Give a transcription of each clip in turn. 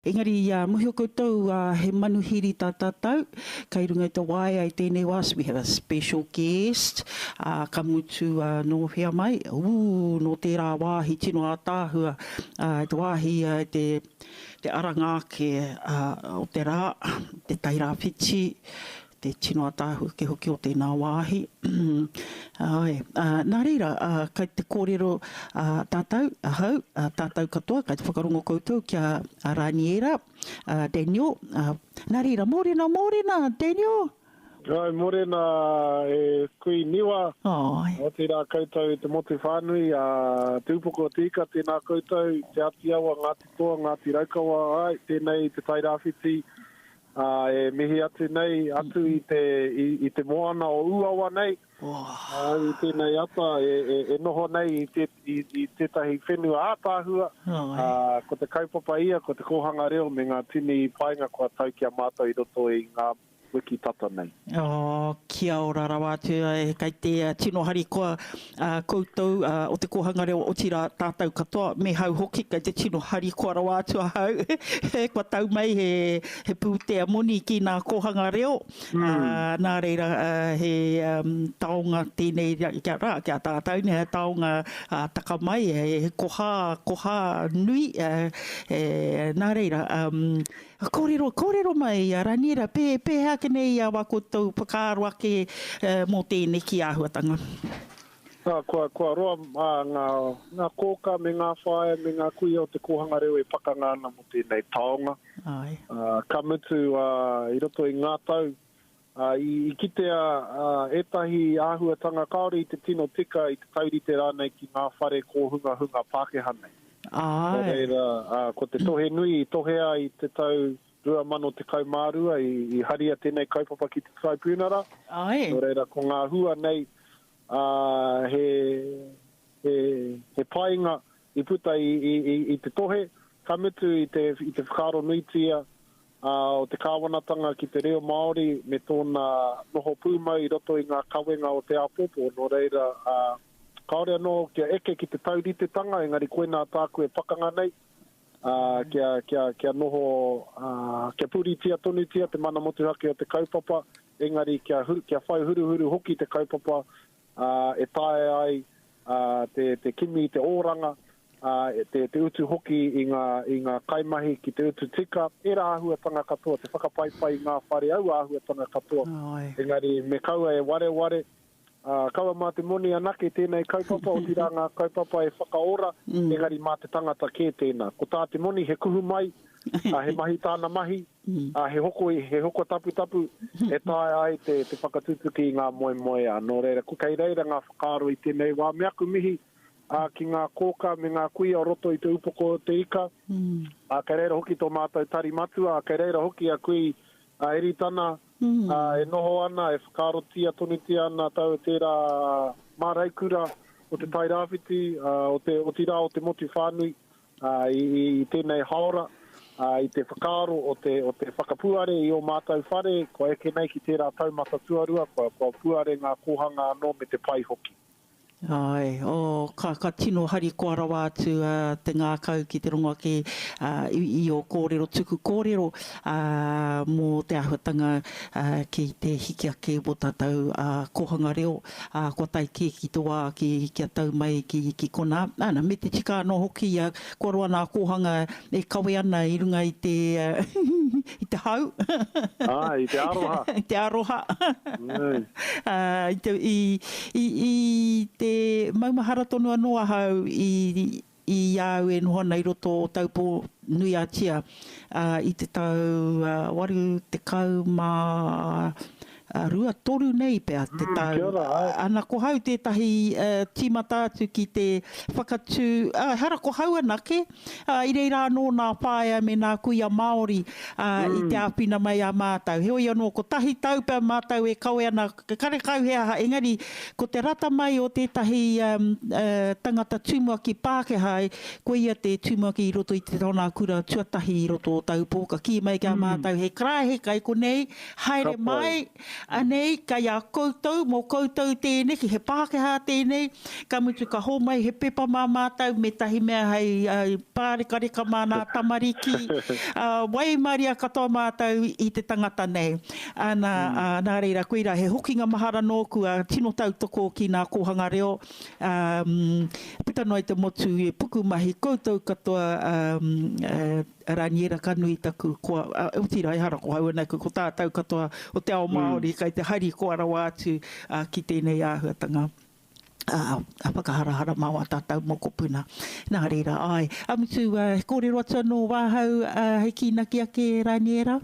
Engari i a mōhio koutou ā he manuhiri tā tātou kei runga i te waea i tēnei wā so we have a special guest ā ka mutu ā nō whea mai ū nō tērā wāhi tino ātaahua ā i te wāhi ā i te te aranga ake ā o te rā te Tairāwhiti te tino ataahuke hoki o tēnā wāhi. Āe, ā, nā reira, ā, kei te kōrero, ā, tātou, ahau, ā, tātou katoa, kei te whakarongo koutou ki a, a Rāniera, a Daniel, ā, nā reira, mōrena, mōrena, Daniel! Āe, mōrena e Kui Niwa. Āe. Otirā koutou i te motu whānui, ā, Te Upoko o Te Ika, tēnā koutou, Te Āti Awa, Ngāti Toa, Ngāti Raukawa, āe, tēnei i Te Tai Rāwhiti, Ā, e mihi atu nei, atu i te, i, i te moana o Ūawa nei, ā, i tēnei ata e, e, e noho nei i, te, i, i tētahi whenua ātaahua, ā, ko te kaupapa ia, ko te kōhanga reo me ngā tini painga kua tau ki a mātou i roto i ngā wiki tata nei. Kia ora rawa atu kei te tino harikoa koutou o te kōhanga reo otirā tātou katoa me hau hoki kei te tino harikoa rawa atu ahau kua tau mai he pūtea moni ki nā kōhanga reo nā reira he taonga tēnei rā ki a tātou nei he taonga taka mai he koha koha nui nā reira Ka kōrero, kōrero mai i a Raniera, pē, pēhea ake nei ia wā koutou whakaaro ake mō tēneki āhuatanga? Ā, kua, kua roa ā, ngā, ngā kōkā me ngā whāea me ngā kuia o te kōhanga reo e pakanga ana mō tēnei taonga. Āe. Ā, ka mutu, ā, i roto i ngā tau, I kitea ētahi āhuatanga kāore i te tino tika, i te taurite rānei ki ngā whare kōhungahunga Pākehā nei. Nō reira, ko te tohe nui i tohea i te tau 2012 i haria tēnei kaupapa ki te Taraipiunara, nō reira, ko ngā hua nei he painga i puta i te tohe, ka mutu i te whakaaro nuitia ā, o te kāwanatanga ki te reo Māori me tōna noho pūmau i roto i ngā kawenga o te āpōpō, nō reira, ā, kāore anō kia eke ki te tauritetanga, engari koinā tāku e pakanga nei, ā, kia, kia, kia noho, ā, kia puritia tonutia te mana motuhake o te kaupapa, engari kia, kia whai huruhuru hoki te kaupapa e taea ai te kimi i te oranga, te utu hoki i ngā kaimahi ki te utu tika, ērā āhuatanga katoa, te whakapaipai i ngā whare, aua āhuatanga katoa. Engari me kaua e wareware, kaua mā te moni anake tēnei kaupapa, otirā ngā kaupapa e whakaora, engari mā te tangata kē tēnā. Ko tā te moni he kuhu mai, ā, he mahi tāna mahi, ā, he hoko, he hoko taputapu e taea ai te, te whakatutuki i ngā moemoeā. Nō reira, ko kei reira ngā whakaaro i tēnei wā. Me aku mihi ā, ki ngā kōkā me ngā kuia o roto i te upoko o Te Ika, ā, kei reira hoki tō mātou tari matua, ā, kei reira hoki a Kui ā, Eritana, ā, e noho ana, e whakaarotia tonutia ana tau o tērā māraikura o Te Tairāwhiti, ā, o te, otirā o te motu whānui, ā, i tēnei hāora, ā, i te whakaaro o te, o te whakapuare i ō mātou whare, kua eke nei ki tērā taumata tuarua, kua, kua puare ngā kōhanga anō me te pai hoki. Āe, oh, ka, ka tino harikoa rawa atu ā, te ngākau ki te rongo ake ā, i, i ō kōrero tuku kōrero ā, mō te āhuatanga ā, ki te hiki ake i wō tātou ā, kōhanga reo. ā, kua tae kē ki te wā ki, kia tau mai ki, ki konā. Ana, me te tika anō hoki ia, kua roa nā kōhanga e kawe ana i runga i te, i te hau. Āe, i te aroha. I te aroha. Āe. Ā, i te, i, i, i te maumahara tonu anō ahau i, I a au e noho ana i roto o Taupō nui a Tia i te tau 82, toru nei pea te tau. Kia ora ai. Ana ko hau tētahi tīmata atu ki te whakatū, ehara ko hau anake, ā, i reira anō nā whaea me nā kuia Māori i te āwhina mai a mātou. Heoi anō, kotahi tau pea mātou e kawe ana Ka karekau he aha, engari ko te rata mai o tētahi tangata tumuaki Pākehā, koia te tumuaki i roto i te taonā kura tuatahi i roto o Taupō, ka kī mai ki a mātou he karaehe kai konei, haere mai, anei, kai a koutou, mō koutou tēneki, he Pākehā tēnei, ka mutu ka hōmai he pepa mā mātou me tahi mea hei pārekareka mā nā tamariki, waimaria katoa mātou i te tangata nei. Ā, nā, ā, nā reira, koirā he hokinga mahara nōku, ā, tino tautoko ki ngā kōhanga reo, ā, puta noa i te motu, i pukumahi, koutou katoa, ā, ā, Raniera ka nui taku, ko, ā, otirā, ehara ko Hauana aku, ko tātou katoa o te ao Māori kei te harikoa rawa atu, ā, ki tēnei āhuatanga, ā, a whakaharahara mā wā tātou mokopuna. Nā reira, āe. A Mutu, ā, he kōrero atu anō wāhau, ā, hei kīnaki ake, Raniera?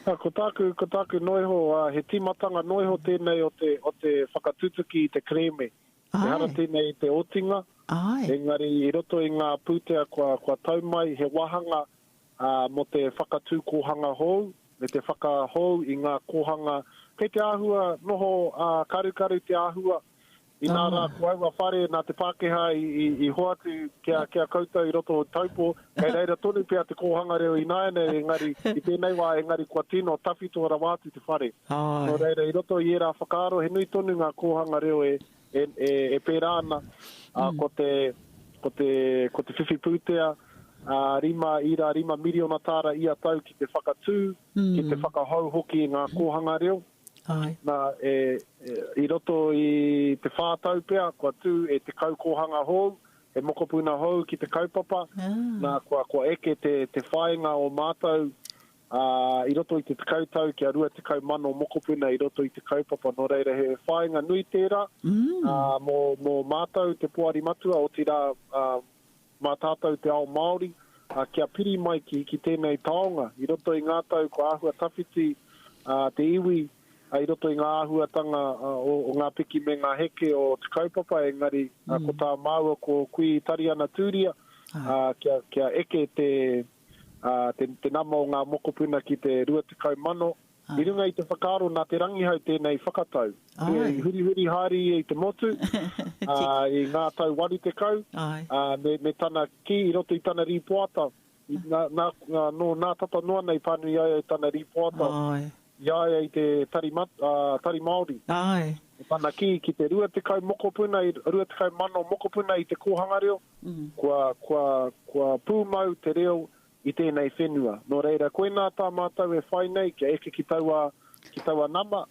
Ko tāku, ko tāku noa iho, he tīmatanga noa iho tēnei o te, o te whakatutuki i te kerēme. Āe. Ehara tēnei i te otinga. Āe. Engari i roto i ngā pūtea kua, kua tau mai he wāhanga, ā, mō te whakatū kōhanga hou, me te whakahou i ngā kōhanga kei te āhua noho, ā, karukaru te āhua, Inā rā ko aua whare nā te Pākehā i hoatu ki a koutou i roto o Taupo, kei reira tonu pea te kōhanga reo ināianei engari i tēnei wā engari kua tino tawhito rawa atu te whare. Nō reira i roto i ērā whakaaro he nui tonu ngā kōhanga reo e pērā ana, ko te, ko te, ko te whiwhi pūtea, rima, ira, rima miriona tāra ia tau ki te whakatū, ki te whakahou hoki i ngā kōhanga reo. Āe. Nā, e, e, i roto i te whā tau pea, kua tū e te kaukōhanga hou, he mokopuna hou ki te kaupapa, ah. nā, kua, kua eke te, te whāinga o mātou, ā, i roto i te tekau tau kia rua tekau mano mokopuna i roto i te kaupapa, nō reira he whāinga nui tērā, mm. ā, mō, mō mātou te poari matua, otirā, ā, Mā tātou te ao Māori, ā, kia piri mai ki, ki tēnei taonga, i roto i ngā tau kua āhua tawhiti, ā, te iwi, ā, i roto i ngā āhuatanga, ā, o, o ngā piki me ngā heke o te kaupapa, engari, ā, ko tā māua, ko Kui Tariana Tūria, ā, kia, kia eke te, ā, te, te nama o ngā mokopuna ki te 20,000, I runga i te whakaaro nā Te Rangihau tēnei whakatau. Āe. I hurihuri haere ia i te motu, ā, i ngā tau waru tekau, Āe. ā, me, me tana kī i roto i tana rīpoata, i, nā, nā, ā, nō nā tata noa nei pānui ai au tana rīpoata Āe. i a ia i te Tari, Mat, ā, Tari Māori. Āe. Ko tana kī ki te 20 mokopuna, i, 20,000 mokopuna i te kōhanga reo, kua, kua, kua pūmau te reo i tēnei whenua. Nō reira, koinā tā mātou e whai nei kia eke ki taua, ki taua nama,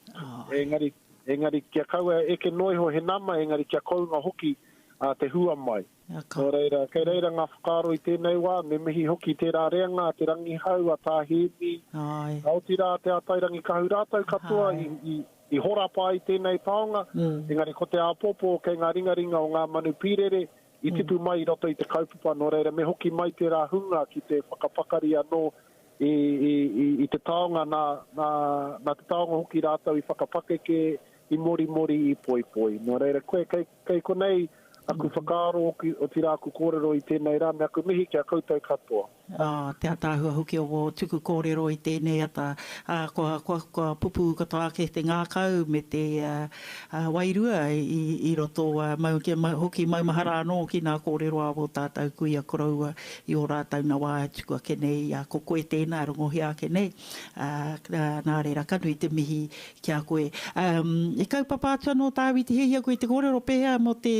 engari, engari kia kaua e eke noa iho he nama, engari kia kounga hoki a te hua mai. Nō reira, kei reira ngā whakaaro i tēnei wā, me mihi hoki tērā reanga a Te Rangihau, a Tā Hēmi, ka oti rā a Te Atairangikahu, rātou katoa i, i, i horapa ai tēnei taonga, engari ko te āpōpō kei ngā ringaringa o ngā manu pīrere, i tipu mai i roto i te kaupapa, nō reira me hoki mai tērā hunga ki te whakapakari anō i, i, i, i te taonga, nā, nā, nā te taonga hoki rātou i whakapakeke, i morimori, i poipoi. Nō reira, koe, kei, kei konei aku whakaaro, otirā aku kōrero i tēnei rā, me aku mihi ki a koutou katoa. te ataahua hoki o wō tuku kōrero i tēnei ata, ā, kua, kua, kua pupū katoa ake te ngākau me te wairua i, i roto, ā, mau, kia mau, hoki maumahara anō ki ngā kōrero a wō tātau kuia koroua i ō rātau nawa e tuku ake nei, ā, ko koe tēnā e rongohia ake nei, ā, nā reira, ka nui te mihi ki a koe. I kaupapa atu anō tāu i te hiahia koe i te kōrero pēhea mō te,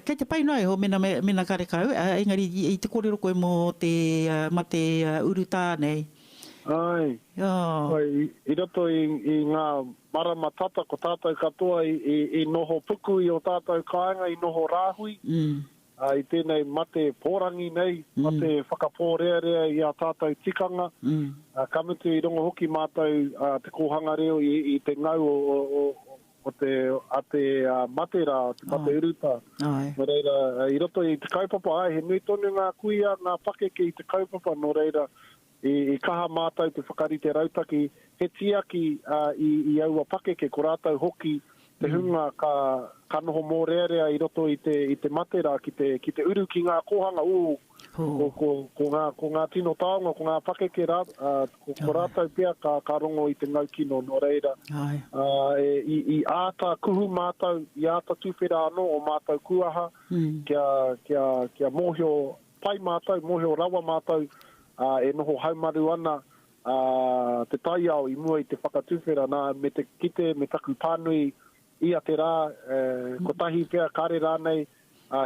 Kei te pai noa iho mena me, mena karekau, engari i te korero koe mo te mate urutā nei. Ae. Oh. I roto i nga marama tata ko tatou katoa i noho puku i o tatou kaenga i noho rahui i tenei mate porangi nei, mate whakaporearea i a tatou tikanga, ka mutu i rongo hoki matou te kohanga reo i te ngau o Ko te ate mate rā, te mate uruta. Nō reira, i roto i te kaupapa, āe, he nui tonu ngā kuia, ngā pakeke i te kaupapa, nō reira, i kaha mātou te whakarite rautaki, he tiaki i aua pakeke, ko rātou hoki te hunga ka noho mōrearea i roto i te mate rā ki te uru ki ngā kōhanga, ū, Ko ngā tino taonga, ko ngā pakeke rā, ko rātou pea ka rongo i te ngau kino. Nō reira, i āta kuhu mātou, i āta tuwhera anō o mātou kuaha kia mōhio pai mātou, mōhio rawa mātou e noho haumaru ana te taiao i mua i te whakatuwhera. Nā, me te kite, me taku pānui, Ia te rā, kotahi pea kare rānei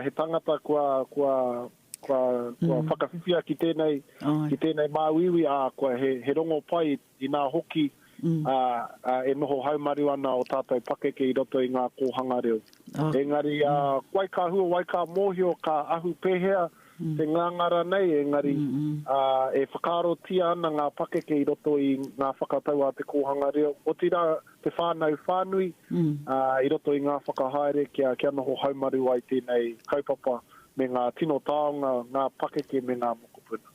he tangata kua whakawhiwhia ki tēnei, ki tēnei māuiui, ā, kua he rongo pai inā hoki e noho haumaru ana ō tātou pakeke i roto i ngā kōhanga reo. Engari, wai ka hua, wai ka mōhio, ka ahu pēhea te nganga ranei engari e whakaarotia ana ngā pakeke i roto i ngā whakatau a te kōhanga reo, otirā te whānau whānui i roto i ngā whakahaere kia, kia noho haumaru ai tēnei kaupapa me ngā tino taonga, ngā pakeke me ngā mokopuna.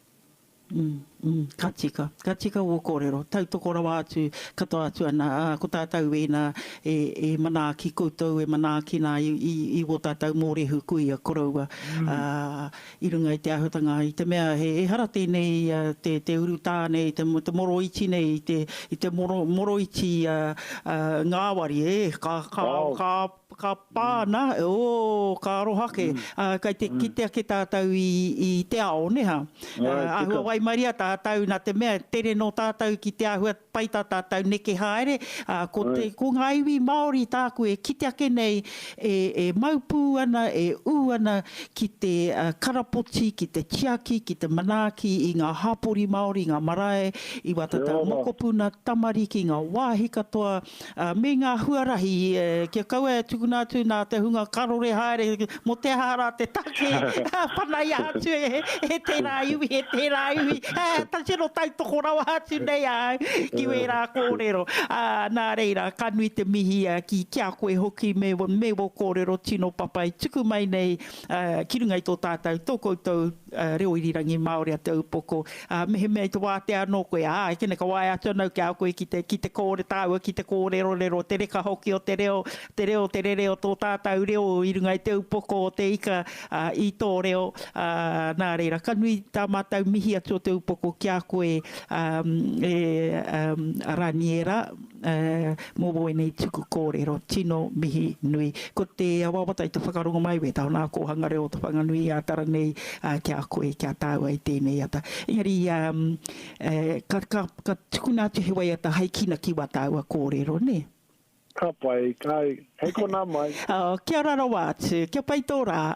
Ka tika, ka tika wō kōrero, tautoko rawa atu, katoa atu ana, ā, ko tātou wēnā e, e manaaki koutou, e manaaki nā i, i, i wō tātou mōrehu kuia koroua, ā, i runga i te āhuatanga, i te mea he, ehara tēnei, te, te urutā nei, te, te moroiti nei, i te, i te moro, moroiti, ā, ā, ngāwari, e, ka, ka, ka, Ka pā ana, ō, ka aroha ake, ā, kei te kite ake tātou i, i te ao, nē hā? Ā, āhua waimaria tātou nā te mea tere nō tātou ki te āhua pai tā tātou neke haere, ā, ko te, ko ngā iwi Māori tāku e kite ake nei, e, e mau pū ana, e ū ana ki te karapoti, ki te tiaki, ki te manaaki i ngā hapori Māori, ngā marae i Watatau Mokopuna, tamariki, ngā wāhi katoa, me ngā huarahi kia kaua e tukuna atu nā te hunga karore haere mō te aha rā te take panaia atu e tērā iwi, e tērā iwi, he tino tautoko rawa atu nei ahau ki wērā kōrero. Nā reira, ka nui te mihi ki a koe hoki me wō kōrero tino papai tuku mai nei ki runga i tō tātou, tō koutou reo irirangi Māori a te upoko, ā, mehemea i te wātea anō koe, ā, e kene ka waea atu ana au ki a koe ki te, ki te kōre tāua, ki te kōrerorero, te reka hoki o te reo, te reo, te rere o tō tātau reo i runga i te upoko o te ika, ā, i tō reo, ā, nā reira, ka nui tā mātau mihi atu o te upoko ki a koe, ā, e, ā, Raniera. Mō wēnei tuku kōrero, tino mihi nui. Ko te wawata i te whakarongo mai, wētā o nā kōhanga reo o Te Whanganui-ā-Tara nei, ki a koe, ki a tāua i tēnei ata. Engari, ka tukuna atu he waiata hai kina ki wā tāua kōrero, nē? Ka pai, kai, hei konā mai. Kia ora rawa atu, kia pai tō rā.